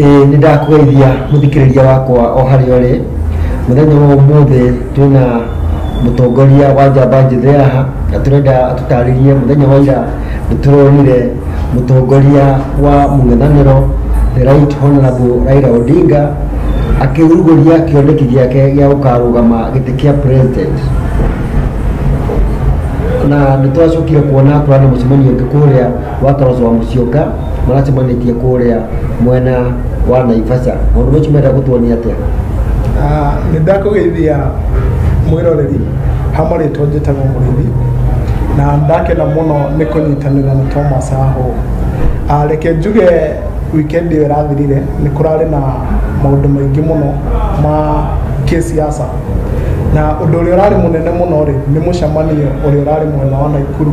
Ĩĩ nĩ ndakũgeithia mũthikĩrĩria wakwa o harĩa ũrĩ mũthenya wa ũmũthĩ twĩna mũtongoria wa njamba njĩthĩ haha na tũrenda atũtarĩrie mũthenya wa ira nĩ tũronire mũtongoria wa mũng'ethanĩro the right honorable Raila Odinga akĩrugũria kĩoneki gĩake gĩa gũkarũgama gĩtĩ kĩa president na nĩ twacokire kuona kũrana mũcemanio ũngĩ kũrĩa wa Toroso wa Musyoka maracemanĩtie kũrĩa mwena wa Naivasha maũndũ macio menda gũtuonia atĩa Ah, nĩ ndakũgeithia mwĩroreri hamwe rĩtwa njĩtagwo mũrĩithi na ndakena mũno nĩ kũnyitanĩra na thomas ahũ Ah, reke njuge wikendi ĩyo ĩrathirire nĩ kũrarĩ na maũndũ maingĩ mũno ma kĩsiasa na ũndũ ũrĩa ũrarĩ mũnene mũno rĩ nĩ mũcemanio ũrĩa ũrarĩ mwena wa naikuru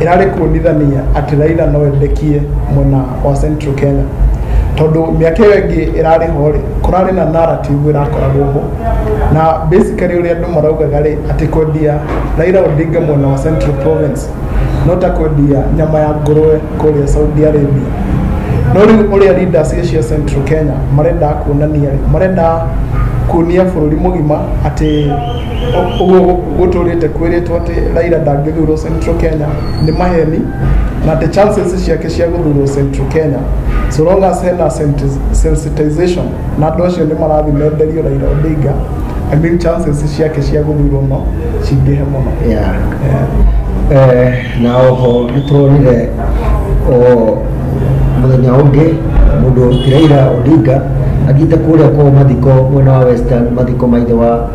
ĩrarĩ kuonithania atĩ Raila no endekie mwena wa Central Kenya tondũ mĩaka ĩyo ĩngĩ ĩrarĩ ho rĩ kũrarĩ na narrative ĩrakoragwo ho na basically ũrĩa andũ maraugaga rĩ atĩ kwendia Raila Odinga mwena wa Central Province no ta kwendia nyama ya ngũrũwe kũrĩa Saudi Arabia no rĩu ũrĩa leaders cia Central Kenya marendaga kuonania rĩ marendaga kuonia bũrũri mũgima atĩ ũguo gũtũrĩte kwĩrĩtwo atĩ Raila ndangĩthurwo Central Kenya nĩ maheni na atĩ chances ciake cia gũthurwo Central Kenya so long as hena senti- sensitization na andũ acio nĩ marathiĩ menderio Raila Odinga I mean chances ciake cia gũthurwo no cingĩhe mũno Yeah. Eh, na oho nä tåronire o må thenya å ngä må ndå tiraira odinga athiä te kå rä a kwao mathiko mwena wa western mathiko maithe wa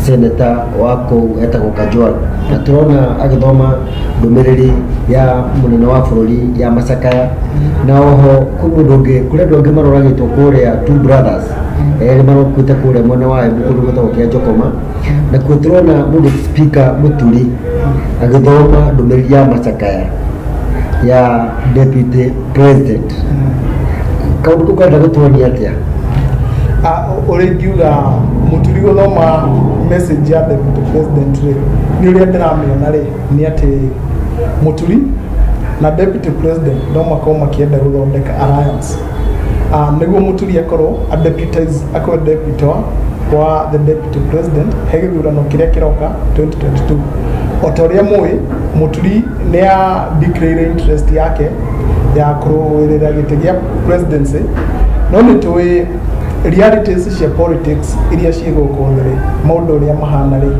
seneta wa kũu etagwo Kajwang na tũrona agĩthoma ndũmĩrĩri ya mũnene wa bũrũri ya macakaya na oho kwĩ mũndũ ũngĩ kũrĩ andũ angĩ maroragĩtwo kũrĩa two brothers erĩ marokuĩte kũrĩa mwena wa Embu kũndũ gwĩtagwo kĩa Njokoma nakuo tũrona mũndũ spika mũturi agĩthoma ndũmĩrĩri ya macakaya ya deputy president kaundu kwenda gutuonia atia ũrĩa ingiuga mũturigo no ma message ya deputy president rĩ nĩ ũrĩa ndĩramĩona rĩ nĩ atĩ mũturi na deputy president no makorwo makĩenda gũthondeka alliance Ah, nĩguo mũturi akorwo adeputize akorwo deputy wa- wa the deputy president he gĩthurano kĩrĩa kĩroka 2022 o ta ũrĩa mũĩ mũturi nĩ ya declare interest yake ya kũrũĩrĩra gĩtĩ gĩa presidency no nĩ tũĩ realities cia politics iria ciĩ gũkũ thĩ maũndũ ũrĩa mahana rĩ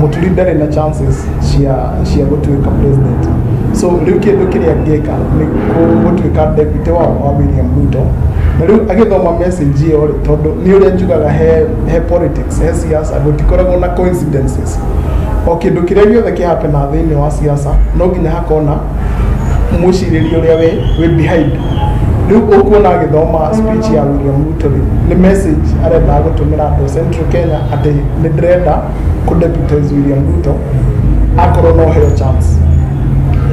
mũturi ndarĩ na chances cia cia gũtuĩka president so rĩu kĩndũ kĩrĩa angĩka nĩ kũ- gũtuĩka deputy wa wa William Ruto na rĩu agĩthoma message ĩyo rĩ tondũ nĩ ũrĩa njugaga he he politics he siasa gũtikoragwo na coincidences o kĩndũ kĩrĩa gĩothe kĩhapena thĩinĩ wa siasa no nginya hakona mwĩcirĩrie ũrĩa we wĩ behind rĩu ũkuona agĩthoma speech ya William Ruto rĩ nĩ message arendaga gũtũmĩra andũ a Central Kenya atĩ nĩ ndĩrenda kũ deputize William Ruto akorwo no heo chance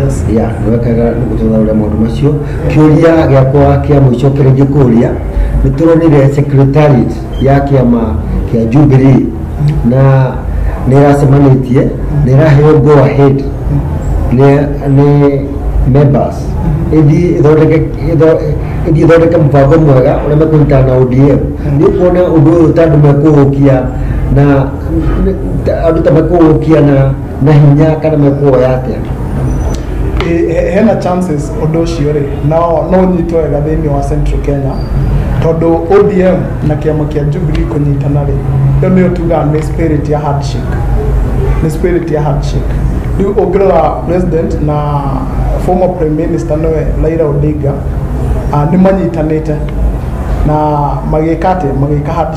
yes ya wekaga nĩgũtũthaũra maũndũ macio kĩũria gĩakwa kĩa mũico kĩrĩa ingĩkũria nĩ tũronire secretariat ya kĩama kĩa Jubilee na nĩ ĩracemanĩtie nĩ ĩraheo go ahead nĩ nĩ members ĩthiĩ ĩthondeke ĩtho- ĩthiĩ ĩthondeke mũbango mwega ũrĩa mekũnyitana na ODM nĩ kuona ũndũ ũyũ ta andũ mekũũkia na nĩ- ta- andũ ta mekũũkia na na hinya kana mekuoya atĩa Ĩ- he- hena chances ũndũ ũcio rĩ no no ũnyitwo wega thĩinĩ wa central kenya tondũ odm na kĩama kĩa jubilee kũnyitana rĩ ĩyo nĩyo tugaga nĩ spirit ya handshake nĩ spirit ya handshake rĩu ũngĩrora president na former prime minister nĩwe raira odinga ah, nĩ manyitanĩte na magĩka atĩ magĩka handshake